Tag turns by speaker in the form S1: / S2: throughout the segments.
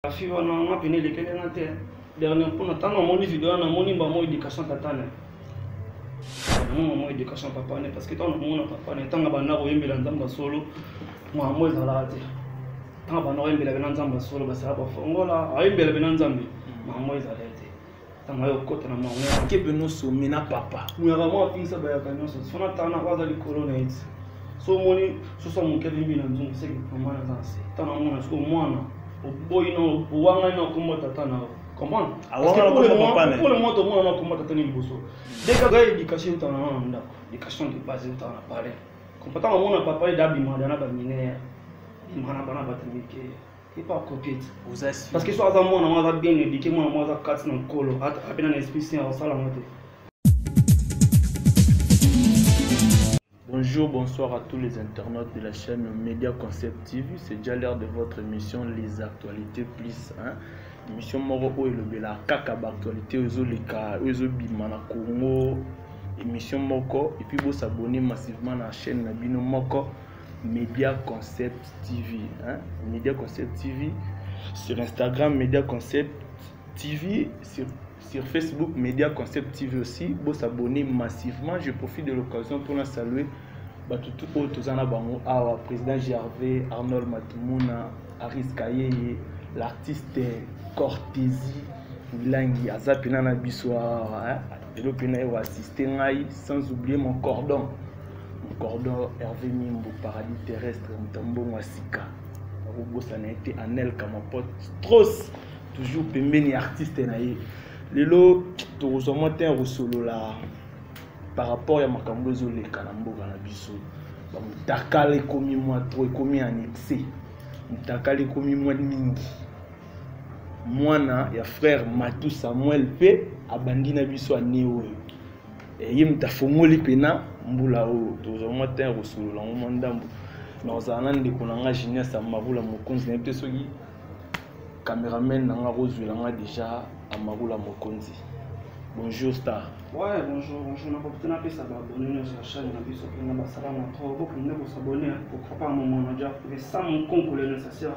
S1: La fille wana nga pene elekeli nga te dernier mpona ntango amoni video wana namoni mba mo éducation tata na yango mo éducation papa ne parce que ntango nakomona papa ne ntango abanda koyembela nzambe ya solo mwango ezalaka te ntango abanda koyembela bena nzambe ya solo basala bafongola ayembela bena nzambe mwango ezalaka tanga yo kota na mwa mwa kebe no somme na papa muyaka mwa afingisa bayaka nyonso fana tanga na kwaza likolo na eti so omoni soso moke limbi na nzungu seke mama na zanse tanga mwana siko mwana oboyi na owangani na kombo tata na yo comprendre pour le moment tomona na kombo tata na liboso dès kaka éducation tanga na ndako éducation de base tanga na palais comportement mona papa ye dabima dana baminere imana bana batamike epa coquete oza si parce que so aza mwana mwa aza bien éduqué mwana mwa aza kati na nkolo apena na esprit saint akosala yango te
S2: Bonjour, bonsoir à tous les internautes de la chaîne Media Concept TV. C'est déjà l'heure de votre émission Les Actualités Plus. Hein? Émission Moro Oyo Lobela, Kaka Actualité, Ozo Leka, Ozo Bimana Congo, émission Moko. Et puis vous s'abonnez massivement à la chaîne Nabino Moko. Media Concept TV. Hein? Media Concept TV. Sur Instagram, Media Concept TV. Sur, sur Facebook, Media Concept TV aussi. Vous s'abonnez massivement. Je profite de l'occasion pour la saluer. Batutu oyo toza na bango awa président gervais arnold matumuna aris kayeye l'artiste cortesi milangi aza mpena na biso awa lelo mpe naye oassiste ngai sans oublier mon cordon mon cordon hervé mimbu paradis terrestre moto mbongo ya sika akobosana ye te anel kamapot stros toujours pembeni ya artiste na ye lelo tokozwa mwa ntan ya kosolola par rapport ya makambo ezoleka na mboka na biso bamotakala ekomi mwa tro ekomi annexe motakala ekomi mwa mingi mwana ya frère matou samuel mpe abandi na biso ane oyo eh, ye moto afongoli mpena mbula oyo tozwa mwa ntan ya kosolola yango mwa ndambo na ozala na ndeko na ngai genias amarula mokonzi nayebi te soki cameraman na ngai akozwela ngai déjà amarula mokonzi bonjour star ouais bonjour bonjour
S1: nakoki napesa baabone nyonso ya chaine na biso mpena basalama trop bokende kosabone pourquoi pas momona dia pesa monkonkole necessaire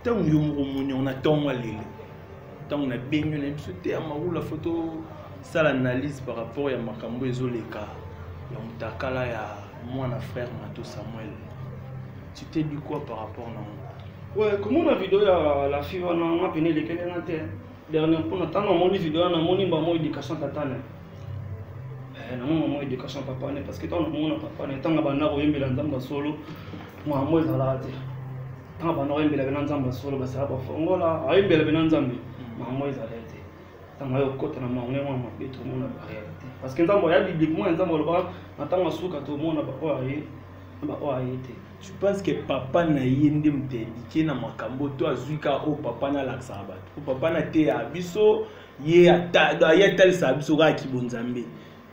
S2: ntango yo moko omoni yango na ntongo ya lelo ntango nabengi yo na biso te ya mawula fo tosala analyse par rapport ya makambo ezoleka ya motakala ya mwana frère mato samuel tu te dit quoi par rapport na yango ouais komona video
S1: ya la fille wana nga pene elekeli nga te dernière mpona ntango namoni video wana namoni mbamo éducation tatane eh, namoni mbamo éducation papane parce que ntango nakomona papane ntango abanda koyembela nzambe ya solo mwango ezalaka te ntango banda koyembela bena nzambe ya solo basala bafongola ayembela bena nzambe mm. makambo ezala te ntango ayo okota na makambo yango ya mabe tomona barealité parce que nzambe aya bibliquement ya nzambe alobaka na ntango ya suka tomona baoyo aye na baoyo aye te je pense que
S2: papa na ye nde moto yandike na makambo to azwi ka oyo papa nalakisaka bato po papa nateyaka biso ye atalisaka biso kaka kibonzambe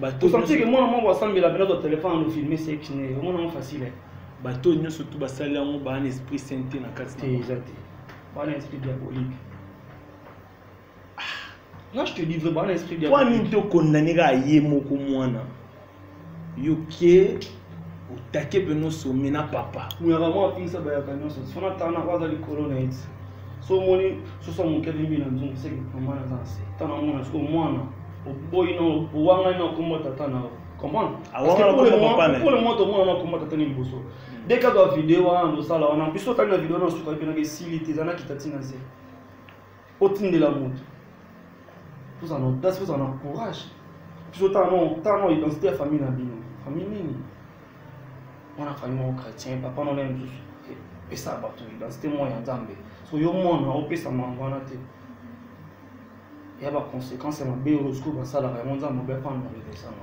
S1: bato osantike mwana moko asambela mpe nazwa telefone no filme sexe ne omona yango facile bato nyonso
S2: tu basali yango baa na esprit saint te na kati te eza te
S1: baa na esprit diabolique nga je te dis vrai baa na esprit diabolique mpo nini te okondane kaka
S2: ye moko mwana yoke otake mpe nosomi na papa muyaka mwa apingisa bayaka
S1: nyonso sona tana oyo aza likolo na eti so omoni soso ya moke alembi na nzungu seke mama naza na se tana mona siko mwana oboyi na owangani na nkombo ya tata na yo comprendre pour le moment tomona na nkombo ya tata na liboso hmm. deka twa video wana tosala wana biso otali na video wana osuka epenaka esili te eza na kita ntina nse otindela moto tozala na audace tozala na courage biso tana identité ya famille na bino famille nini mwana famille moko chrétien papa nona mosusu pesa bato identité moko ya nzambe so yo mwana opesa mango wana te ya baconséquence ya mabe oyo sikoyo basalaka yango nzambe mabe afana na reversama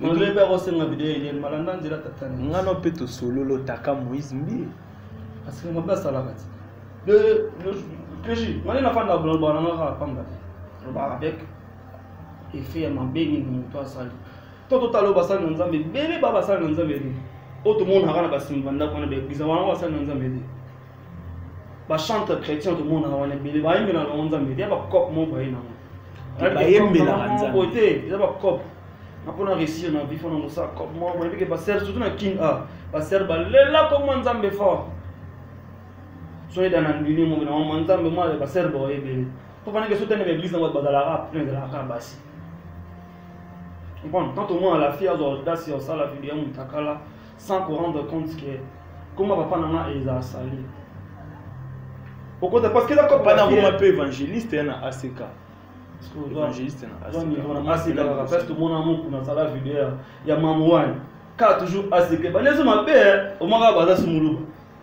S1: maloyebi akosenga video eye malanda nzela tatani ngano mpe tosololo
S2: taka moïse mbi parce que mabe
S1: asalaka ti de pj ngani nafanda bolobaka nanga kaka pamba te lobaka avec effet ya mabe nini moto asali to totala oyo basali na nzambe ebele ba basali na nzambe te oyo tomonaka na basimba ndako wana baeglize wana basali na nzambe te ba chanteur chrétien to mona wana bele ba yembe na lonza mbe ya ba cop mo ba yena ba yembe
S2: na kanza ko te ya ba cop
S1: na pona réussir na vie fona mosa cop mo ba yembe ba ser surtout na king a ba ser ba lela ko mo nzambe fort so eda na ndini mo na mo nzambe mo ba ser ba yebele to bana ke so tene église na ba la rap plein de la rap basi bon quand au moins la fille a audace au sala vie ya mutakala sans ko rendre compte que koma papa na nga eza asali okota parce que d'accord bana koma pe évangéliste
S2: hein, na ACK évangéliste
S1: na ACK na ACK la parce que mon amour kuna sala vidéo ya maman wana ka toujours ACK ba nezo mabe au moins ba za sumuluba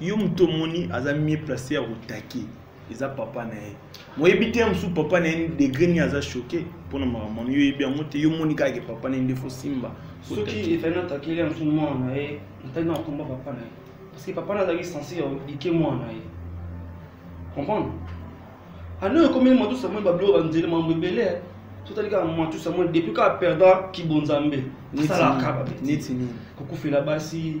S2: yo moto omoni aza mie place ya kotake eza papa na ye moyebi te ya mosusu papa na ye degre nini aza choke mpo na makambo wana yo oyebi yango te yo omoni kaka ke papa na ye nde fosimba soki efani
S1: atakeli ya mosusu mwana na ye natali na kokomba papa na ye parce que papa na azalaki sense ya like mwana na ye comprendre ano ekomeli matu samuel babilo banzeli mambo ebele totali kaka matu samuel depuis kaka perdant kibonzambe asalaka kaka neti nini
S2: kokufela basi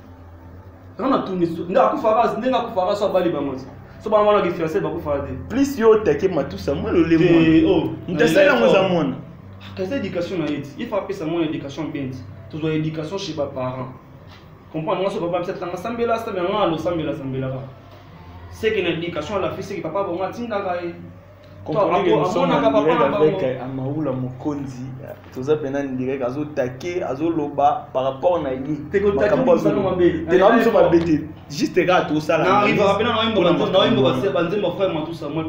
S1: nga natuni nde akufaka ndenge akufaka so abali bango te so bango wana kifiance bakufaka te plus yo otake matusa
S2: mwa lolemo Eh, oh, moto asali yango eza mwana kaza éducation
S1: na ye ti ye fa apesa mwana éducation bien ti tozwa éducation chez baparent comprendre ngai so papa bisa tanga sambela sambela ngai alosambela sambelaka seke na éducation alafi seke papa bongo atindaka ye comprenez
S2: que nous sommes en direct avec euh, Amaoula Mokonzi toza pena direct azo taquer azo loba par rapport na ye makambo azo
S1: te na biso mabe te
S2: juste kaka tosala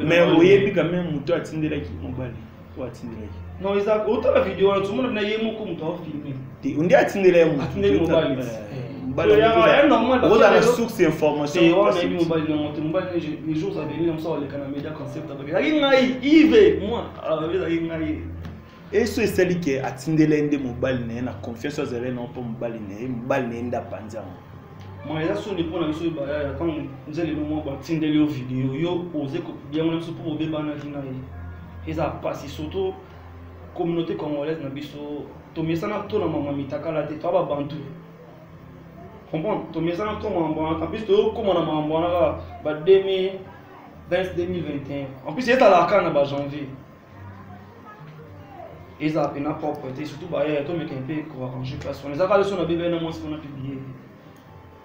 S2: mais
S1: oyebi quand même
S2: moto atindelaki mobali oyo atindelaki non eza otala
S1: video wana tomona na ye
S2: moko
S1: moto aofilme te onde atindela ye motindeli mobali
S2: ozala source
S1: informationezalaki ngai ive moi ezalaki
S2: ngai eso esali ke atindela ye nde mobali na ye na confiance oyo azalaki nao mpo mobali na ye mobali na ye nde apanzi yango ma eza
S1: soni mpo na biso bayaya ntango nzela elongo batindeli yo video yo oze kobiango na biso mpo obebanaki na ye eza mpasi surtout communauté congolaise na biso tomesana to na mambo ya mitakala te toa babantu comprendre tomesana to mambo wana en plus toyokoma na mambo wana kaka ba 2020 2021 en plus ezalaka kaka na ba janvier ezala mpena propre te surtout bayaya tomeka mpe koarrange place wana ezaka leso na bebele na mwasi mpona publier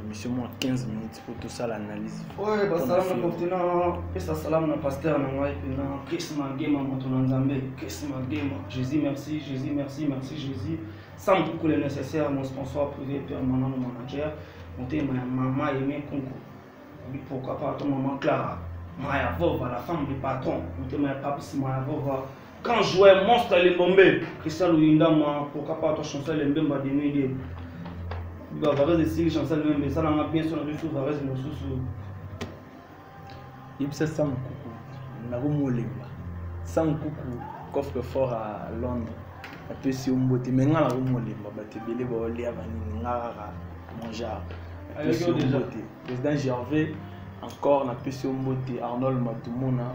S2: émission mwa 15 minutes mpo tosala analyse oyo basalama
S1: koktina pesa salamu na paster na ngai mpena chris magema moto na nzambe chris magema jésus merci jésus merci merci jésus sam kuku le nécessaire mon sponsor privé permanent mon manager motema ya mama yeme kunku bipoka pardon mama clara maya vova la femme du patron motema ya papis maya vova Grand joueur monstre les bombes Christian Luyinda moi pourquoi pas toi chanson les mbemba de nuit de ba varese si chanson les mbemba ça n'a bien son de sous varese no sous sous
S2: yebisa sam kuku na ko molemba sam kuku coffre fort à Londres apesi yo mbote me ngai nako molemba bato ebele baolia banini ngai kaka mon genre apesi yo mbote président gervais encore napesi yo mbote arnold matumona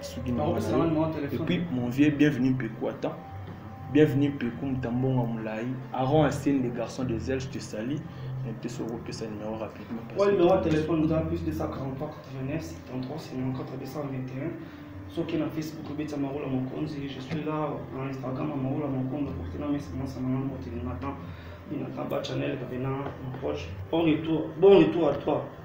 S2: soki na et puis mon vieux bienvenue mpeku ata bienvenue mpeku mutambongo mulai aron asene des garçons des ailes je te salis mpe soki okopesa numero rapidement oyo numero ya telefone
S1: oza plus 243 89 73 54 221 soki na facebook obetisa marola mokonzi je suis là na instagram ya marola mokonzi aporte na mesa masa na ngambo te nathan nathan ba channel kavena mon proche bon retour bon retour à toi